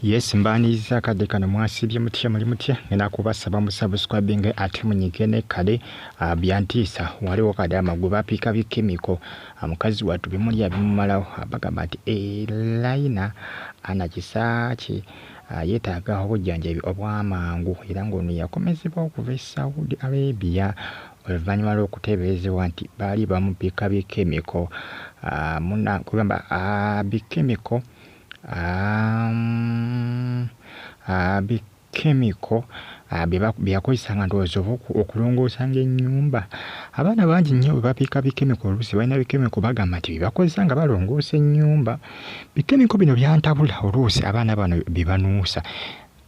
Yes mbaniriza akadde kano mwasibye mutya muli mutya ngenda kubasaba musubscribing ate munyige ne kale uh, byantiisa waliwo kadama gwe bapiika bikemiko uh, mukazi watu bimulya bimumalawo abagamba nti elaina eh, ana kisaaki uh, yetaaga obujjanjabi obwamangu era ng'ono yakomezebwa okuva e saudi arabia oluvannyuma lw'okuteeberezebwa nti baali bamubbika bikemiko muna kugamba bikemiko bikemiko bye yakozesa nga ndowooza oba okulongoosanga ennyumba abaana bangi nnyo bwe bapiika bikemiko oluusi balina bikemiko bagamba nti bye bakozesa nga balongoosa ennyumba bikemiko bino byantabula oluusi abaana bano bye banuusa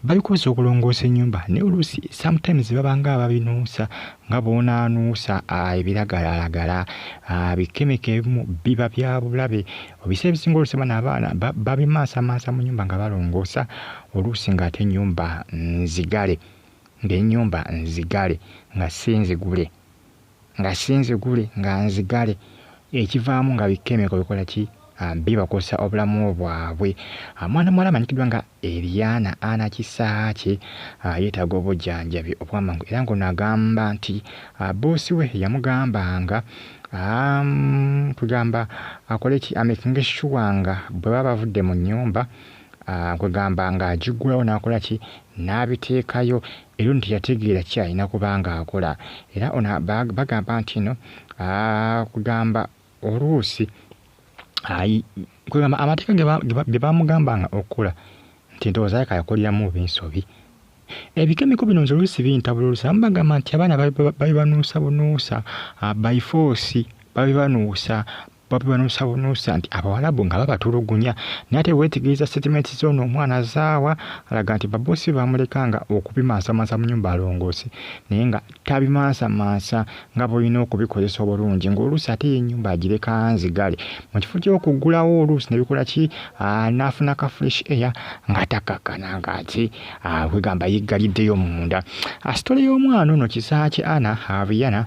babikoze okulongoosa ennyumba naye oluusi sometimes babanga ababinuusa nga bwonaanuusa ah, ebiragalalagala ah, bikemeka ebimu biba bya bulabe obisa ebisinga oluusi bana abaana babimaasamasa mu nyumba nga balongoosa oluusi ng'ate ennyumba nzigale ng'ennyumba nzigale nga si nzigule nga si nzigule nga nzigale ekivaamu nga bikemiko bikola ki ah, bibakosa obulamu bwabwe ah, mwana muwala amanyikiddwa nga eriana ana kisaakye ah, yeetaaga obujanjabi obwamangu era ngono agamba nti boosi we yamugambanga kwegamba akole ki amekinge shuwa nga bwe baba bavudde mu nyumba kwegamba ng'agigulawo n'akola ki n'abiteekayo era ono teyategeera ki alina kuba ng'akola era ono bagamba nti no kugamba oluusi ayi kwegamba amateeka ge bamugamba nga okukola nti ndowooza yaka yakoleramu oba ensobi ebikemiko bino nze oluusi bintabula oluusi abamu bagamba nti abaana babibanuusa bunuusa ah, by force babibanuusa Bobi banuusabunuusa nti Abawalabu nga babatulugunya naye ate weetegereza sitatimenti z'ono omwana zaawa alaga nti baboosi be baamulekanga okubimansamansa mu nyumba alongoose naye nga tabimansamansa nga bw'olina okubikozesa obulungi ng'oluusi ate ye ennyumba agireka nzigale mu kifo ky'okuggulawo oluusi ne bikola ki n'afuna ka fresh air nga takakkana ng'ate kwegamba yeggaliddeyo munda sitole y'omwana ono kisaakye ana abiyana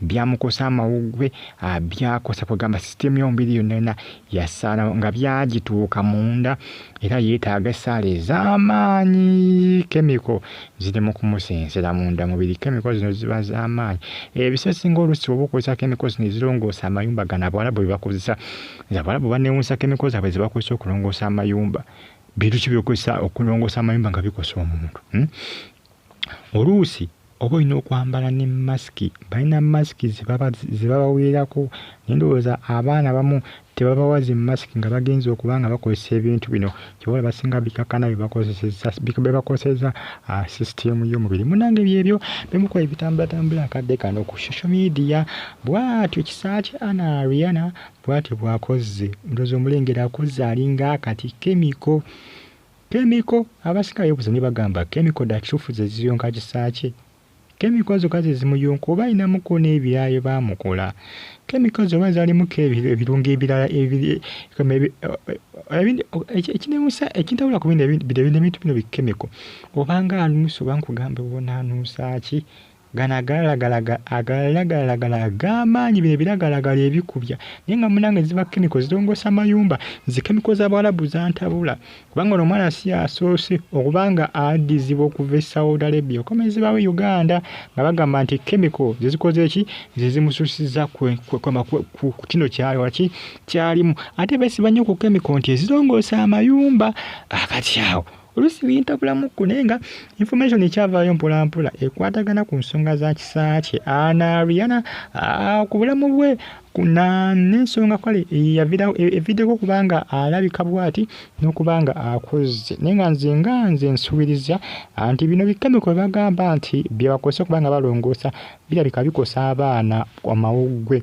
byamukosa amawuggwe ah, byakosa kwegamba sisitemu yomubiri yonna yonna yasaana nga byagituuka munda era yeetaaga essaala ez'amaanyi kemiko ziri mu kumusensera munda mubiri kemiko zino ziba z'amaanyi ebisesinga olusi oba okozesa kemiko zino ezirongoosa amayumba gano abawalabu bwe bakozesa nze abawalabu banewuusa kemiko zaabwe ze bakozesa okulongoosa amayumba bintu ki byokozesa okulongoosa amayumba nga bikosa omuntu hmm? oluusi oba olina okwambala ne masiki balina masiki ze babaweerako naye ndowooza abaana abamu tebabawa zi masiki nga bagenze okuba nga bakozesa ebintu bino kyoba olaba singa bikakkana bye bakozesezza be bakosezza ah, sisitiimu y'omubiri munnange byebyo bimu ku ebitambulatambula akadde kano ku social media bw'atyo kisa kye ana riana bw'atyo bw'akozze ndowooza omulengera akozze alinga akati kemiko Kemiko, Abasinga beebuuza ne bagamba kemiko dda kituufu ze ziyonka Kisaakye? Kemiko zokka ze zimuyonka oba alinamuko n'ebirala bye baamukola? Kemiko ezo oba zaalimuko ebirungo ebirala ekinewuunyisa ekintabula ku bino ebintu bino bikemiko oba ng'anuusa oba nkugamba obonaanuusa ki? Gano agalagalaga agalagalaga ag'amaanyi bino ebiragalagala ebikubya naye nga munange ziba kemiko zirongoosa mayumba nze kemiko z'abawalabu zantabula kubanga ono omwana si asoose okuba nga addizibwa okuva e saudi arabia okomezebwawo e uganda nga bagamba nti kemiko ze zikoze eki ze zimususiza ku kino kyalwaki kyalimu ate besiba nnyo ku kemiko nti ezirongoosa amayumba akati awo oluusi bintabulamuko naye nga information ekyavaayo mpolampola ekwatagana ku nsonga za kisa kye anariana ah, ku bulamu bwe n'ensonga kale yavirawo e, eviddeko okuba nga alabika bwati n'okuba nga akozze naye nga nze nga nze nsuubiriza ah, nti bino bikemiko bagamba nti byebakozesa okuba nga balongoosa birabika bikosa abaana amawuggwe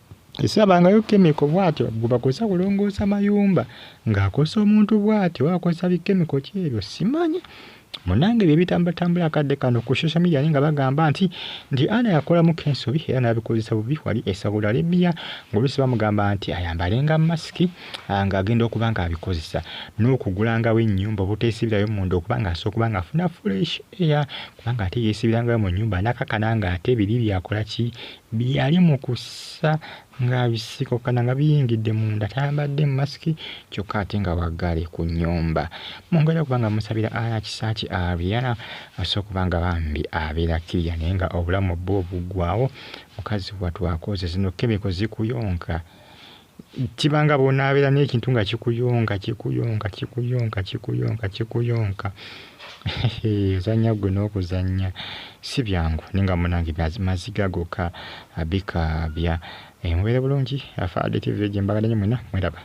esabangayo kemiko bwatyo gwebakozesa kulongoosa mayumba ng'akozesa omuntu bwatyo oba akozesa bikemiko ki ebyo simanyi munange ebyo ebitambulatambula akadde kano ku social media nga bagamba nti nti ana yakolamu kensobi era n'abikozesa bubi wali e saudi arabia ng'oluusi bamugamba nti ayambalenga masiki ah, ng'agenda okuba ng'abikozesa n'okugulangawo ennyumba obuteesibirayo munda okuba ng'asa okuba ng'afuna fresh air kubanga ate yeesibirangayo mu nnyumba nakakana ng'ate biri byakola ki Byali mu kussa nga bisikokana nga biyingidde munda tayambadde masiki kyokka ate nga waggale ku nnyumba mu ngeri okuba nga musabira aya kisaaki Ariana asobola okuba nga bambi abeera kiriya naye nga obulamu bwo buggwawo mukazi watwakoze zino kemiko zikuyonka kiba nga bw'onaabeera n'ekintu nga kikuyonka kikuyonka kikuyonka kikuyonka kikuyonka ozannya ggwe n'okuzannya si byangu naye nga munange maziga gokka bikaabya eh, mubeere bulungi afaaditi village mbagala nyo mwena mweraba